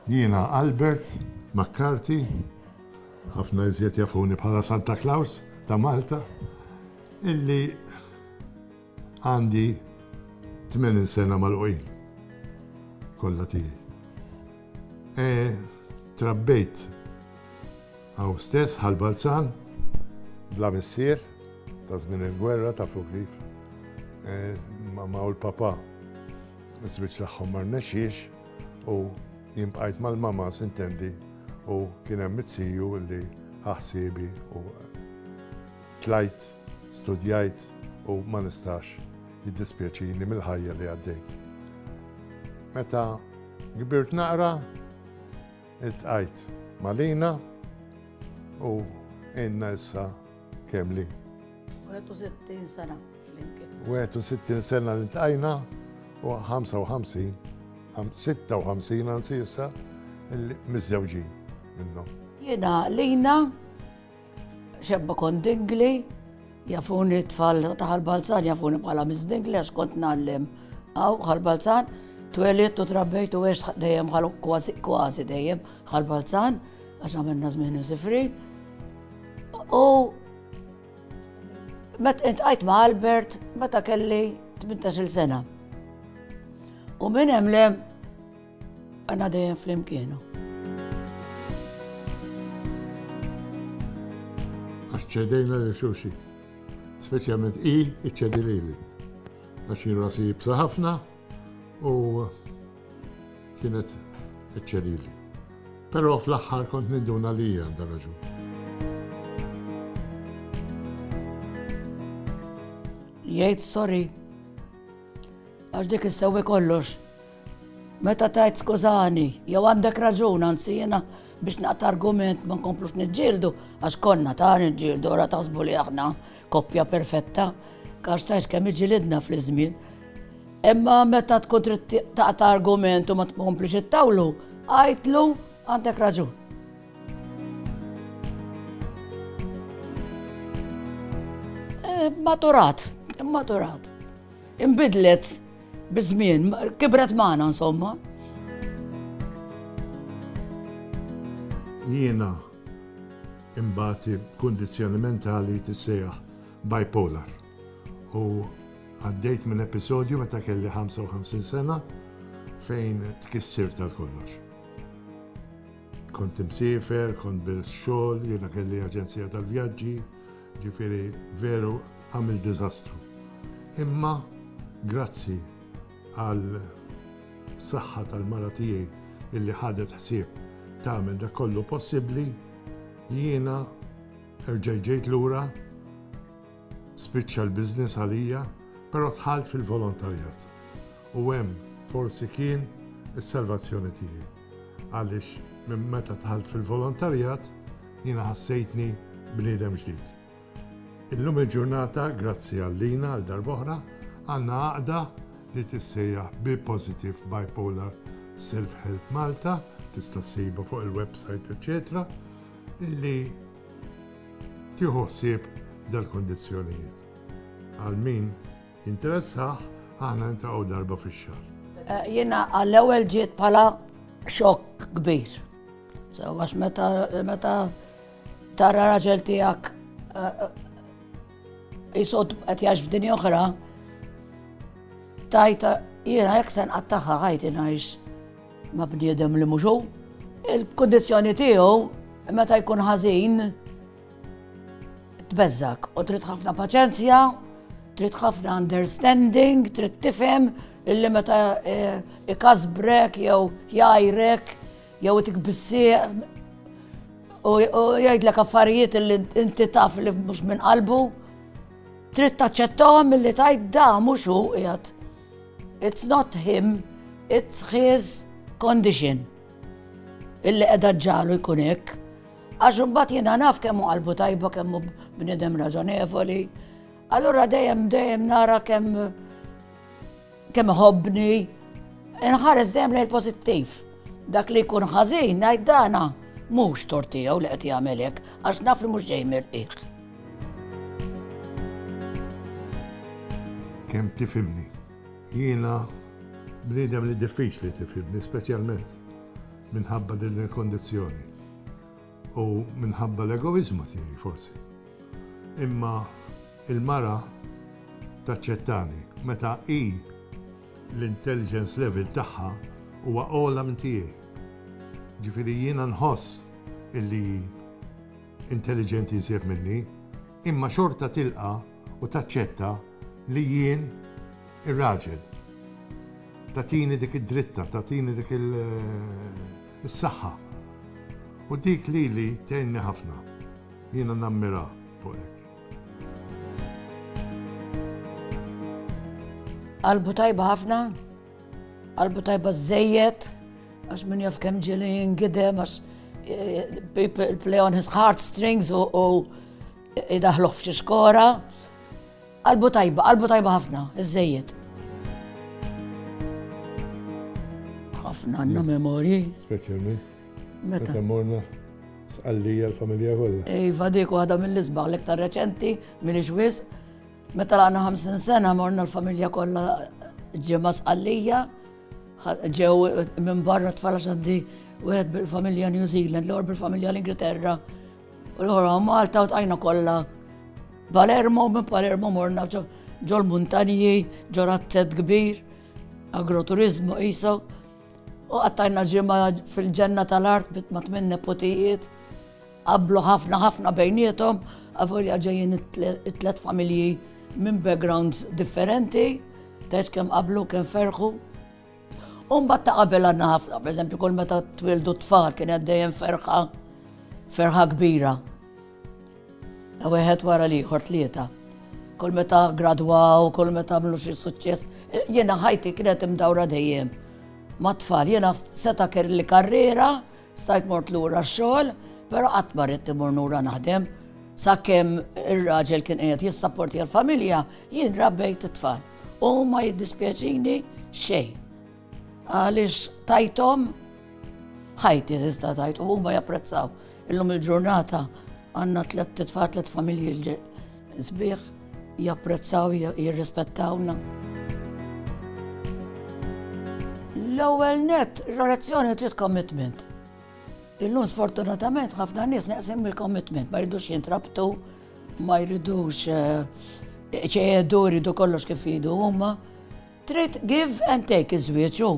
Jiena Albert McCarthy, ħafna iżjed jafuni bħala Santa Claus ta' Malta, illi għandi 80 sena magħluqin kollha tiegħi. E, trabbejt hawn stess ħal Balzan bla missier ta' żmien il-gwerra ta' fuq kif. E, Mama u l-papa żwieġ tagħhom ma rnexxiex U jien bqajt mal-mama sintendi u kien hemm it-siju li ħaħsiebi u tlajt, studjajt u ma nistax jiddispjaċini mill-ħajja li għaddejt. Meta kbirt naqra, iltqajt Malina u għinna issa Kemm li? 61 sena flimkien. 61 sena li tqajna u 55, 56 anzi issa mizzewġi minnhom. Jiena lina xebba kon dingli, jafuni tfal taħal balzan, jafuni bħala mizdingli għax kont nallem għaw bħal balzan, twelit u trabbejt u għex dejjem kważi dejjem bħal balzan. Għax għamilna żmien imsifri. U met intqajt ma' Albert meta kelli 18 sena. U minn hemm lem għandna dejjem flimkienu. Għax ċedejna li xulxin. Speċjalment i iċċedi lili. Għax jirrasi jibsa ħafna u kienet eċċelili. Però fl-aħħar kont ninduna li hija għandha raġun. Jgħid sorry. Għax dik issewwi kollox. Meta tajt skużani, jew għandek raġun, anzi jena biex naqta argument ma nkomplux nġildu, għax konna ta' nġildu, ora taħsbu li aħna Koppja perfetta, għax tajt kemm iġilidna fl-żmien. Imma meta tkun trid taqta' argument u ma tkomplix it-tawlu, għajtlu għandek raġun. Eh, maturat, maturat. Imbidlet biż-żmien, kibret magħna insomma. Jiena Imbagħad il-kundizzjoni mentali tissejjaħ bipolar. U għaddejt minn episodju meta kelli 55 sena fejn tkissir tal-kollox. Kont imsiefer, kont bil-xogħol, jiena kelli aġenzija tal-vjaġġi, ġifieri veru għamil diżastru. Imma grazzi għal saħħa tal-mara tiegħi illi ħadet ħsieb tagħmel dak kollu possibbli, jiena erġajt ġejt lura, spiċċa l-business għalija, però dħalt fil-volontarjat. U hemm forsi kien is-salvazzjoni tiegħi. Għaliex minn meta dħalt fil-volontarjat jiena ħassejtni bniedem ġdid. Illum il-ġurnata, grazzi għallina għal darb'oħra, għandna għaqda li tissejjaħ Be Positive Bipolar Self-Help Malta, tista' ssibha fuq il-websajt eċċetera, illi tieħu ħsieb dal-kundizzjonijiet. Għal min jinteressah, aħna niltaqgħu darba fix-xahar. Jiena għall-ewwel ġiet bħala xokk kbir. So għax meta meta Tara raġel tiegħek jisod eh, eh, qed jax f'dinja oħra, tajta jiena jekk se nqattaħħa ħajti ngħix ma' bniedem li mhux Il-kundizzjoni tiegħu meta jkun ħażin tbeżżak u trid ħafna paċenzja, trid ħafna understanding, trid tifhem illi meta eh, ikasbrek jew jajrek Jew itik bissieq u jgħidlek affarijiet li inti taf li mhux minn qalbu. Trid taċċettahom milli tgħid da mhux hu qiegħed. It's not him, it's his condition. Illi qiegħda ġġalu jkun hekk. Għax imbagħad jiena naf kemm hu qalbu tajba kemm hu bniedem raġonevoli. Allura dejjem dejjem nara kemm Kemm iħobbni, inħares dejjem lejn pożittiv. Dak li jkun ħażin ngħid dana mhux tortijaw li qed jagħmel hekk għax naf li mhux ġej mirqiq. Kemm tifimni? Jiena bniedem li diffiċli tifimni, speċjalment minħabba din il-kondizzjoni. U minħabba l-egoiżmu tiegħi forsi. Imma il-mara taċċettani meta hi l-intelligence level tagħha huwa ogħla minn tiegħi. Ġifieri jiena nħoss illi hi intelligenti iżjed minni, imma xorta tilqa' u taċċetta li jien, Ir-raġel. Tagħtini dik id-dritta, tagħtini dik is-saħħa. U dik lili tgħinni ħafna. Jiena nammirha fuq hekk. Qalbu tajba ħafna, qalbu tajba żejjed, għax min jaf kemm ġieli jingidem, għax eh, people play on his heartstrings u idaħluħ f'xi skora. Qalbu tajba, qalbu tajba ħafna, iż-żejjed. ħafna għandna memorji. Speċjalment. Meta? Meta morna sqallija l-familja kollha. Iva dik waħda mill-isbaħ l-iktar reċenti minn ixwis. Meta għandna 50 sena morna l-familja kollha ġimgħa sqallija. Ġew minn barra tfal għandi wieħed bil-familja New Zealand, l-għor bil-familja l-Ingilterra, U l-ħora Malta u tajna kollha Palermo, minn Palermo morna ġol muntanji, ġol razzet kbir, agroturizmu jisaw. U għattajna ġimma fil-ġenna tal-art bit ma tminn nepotijiet, qablu ħafna ħafna bejnietom, għavolja ġejjin it-tlet familji minn backgrounds differenti, teċ kem qablu kem ferħu. U mbagħad ta' qabel għandna ħafna, pereżempju kull meta twildu tfal kien hemm dejjem ferħa ferħa kbira. Wieħed wara l-ieħor tlieta. Kull meta gradwaw, kull meta għamlu xi suċċess, jiena ħajti kienet imdawra dejjem. Ma tfal, jiena seta' kelli karriera Stajt mort lura x-xogħol, però qatt ma ridt imur nura naħdem. Sakemm ir-raġel kien qiegħed jissapporti l-familja, jien rabbejt it-tfal. U ma jiddispjaċini xejn. Għaliex tajtom ħajti tista' tajt u huma japprezzaw. Illum il-ġurnata għandna tliet titfal tliet familji Sbieħ japprezzaw jirrispettawna. L-ewwel net, relazzjoni trid commitment. Illum sfortunatament ħafna nies neqsim il-commitment, ma jridux jintrabtu, ma jridux eh, ċejedu, jridu kollox kif jidu huma. Trid give and take iż-żwieġu.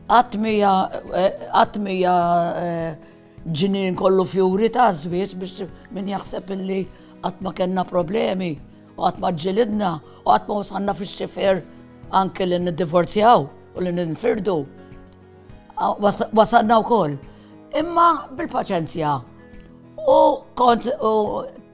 Għatmija, eh, għatmija eh, Ġnien kollu fjuri ta' żwieġ biex min jaħseb illi qatt ma kellna problemi u qatt ma ġġilidna u qatt ma wasalna fix-xifer anke li niddivorzjaw u li ninfirdu. Wasalna wkoll. Imma bil-paċenzja u kont